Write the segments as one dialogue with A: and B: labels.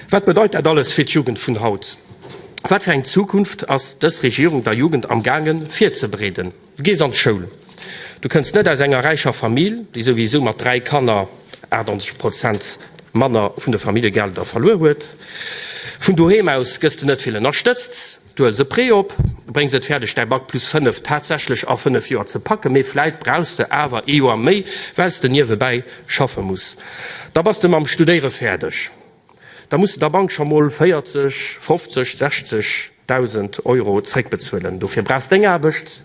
A: Wat bedeit dat alles fir d'Jugend vun haut? Wat fir eng Zukunft ass dës Regierung der Jugend am gaange virzebereeden? Du gees an d'Schoul, du kënns net aus enger räicher Famill, déi souwisou mat dräi Kanner 98 Prozent manner vun de Familljegelder verluer huet, vun doheem aus gëss du net vill ënnerstëtzt, Du huels e Prêt op, bréngs et fäerdeg däi Bac plus 5 tatsächlech a 5 Joer ze packen, mee vläit brauchs de awer ee Joer méi, well s de niewebäi schaffe muss. Da bass de mam Studéiere fäerdeg. Da muss de der Bank scho mol 40, 50, 60 Dausend Euro zréckbezuelen. Dofir brauchs deng Aarbecht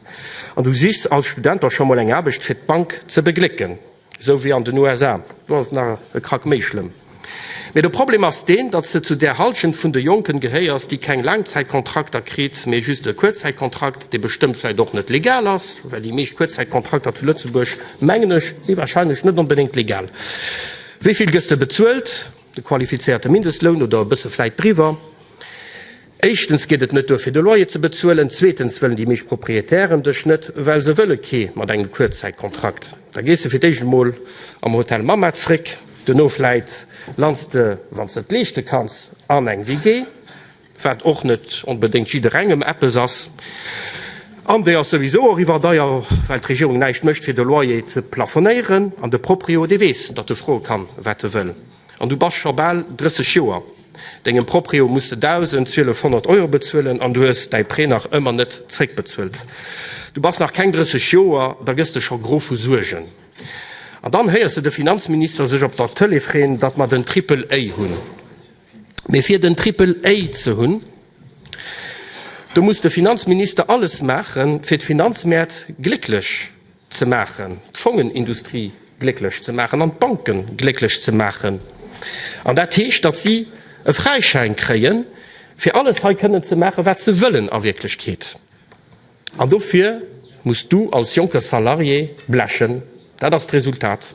A: an du sichs als Student och scho mol eng Aarbecht, fir d'Bank ze beglécken. Esou wéi an den USA, do ass et nach e Krack méi schlëmm. Mee de Problem ass deen, datt s de zu där Hallschent vun de Jonken gehéiers, déi keng Laangzäitkontrakter kritt, mee just e Kuerzzäitkontrakt, dee bestëmmt vläicht och net legal ass, well déi meescht Kuerzzäitkontrakter zu Lëtzebuerg, mengen ech, si warscheinlech net onbedéngt legal. Wéi vill gëss de bezuelt? De qualifizéierte Mindestloun oder e bësse vläicht driwwer? Éischtens geet et net duer fir de Loyer ze bezuelen, zweetens wëllen déi meescht Propriétairen dech net, well se wëlle kee mat engem Kuerzzäitkontrakt. Da gees de fir d'éischt emol am Hotel Mamma zréck, duerno vläit lands de, wann s de et leeschte kanns, an eng WG, wat och net onbedéngt jidderengem eppes ass, an déi ass souwisou och iwwerdeier, well d'Regierung näischt mécht fir de Loyer ze plafonéieren, an de Proprio, dee weess, datt e froe kann, wat e wëll. An du bass scho bal 30 Joer. Dengem Proprio muss de 1.200 Euro bezuelen an du hues däi Prêt nach ëmmer net zréckbezuelt. Du bass nach keng 30 Joer, da gëss de scho gro vu Suergen. An dann héiers de de Finanzminister sech op der Tëlee freeën, datt mer den Triple A hunn. Mee fir den Triple A ze hunn, do muss de Finanzminister alles maachen, fir d'Finanzmäert glécklech ze maachen, d'Fongenindustrie glécklech ze maachen an d'Banke glécklech ze maachen. An dat heescht, datt si e Fräischäin kréie fir alles hei kënnen ze maachen, wat se wëllen a Wierklechkeet. An dofir muss du als jonke Salarié blechen. Dat ass d'Resultat.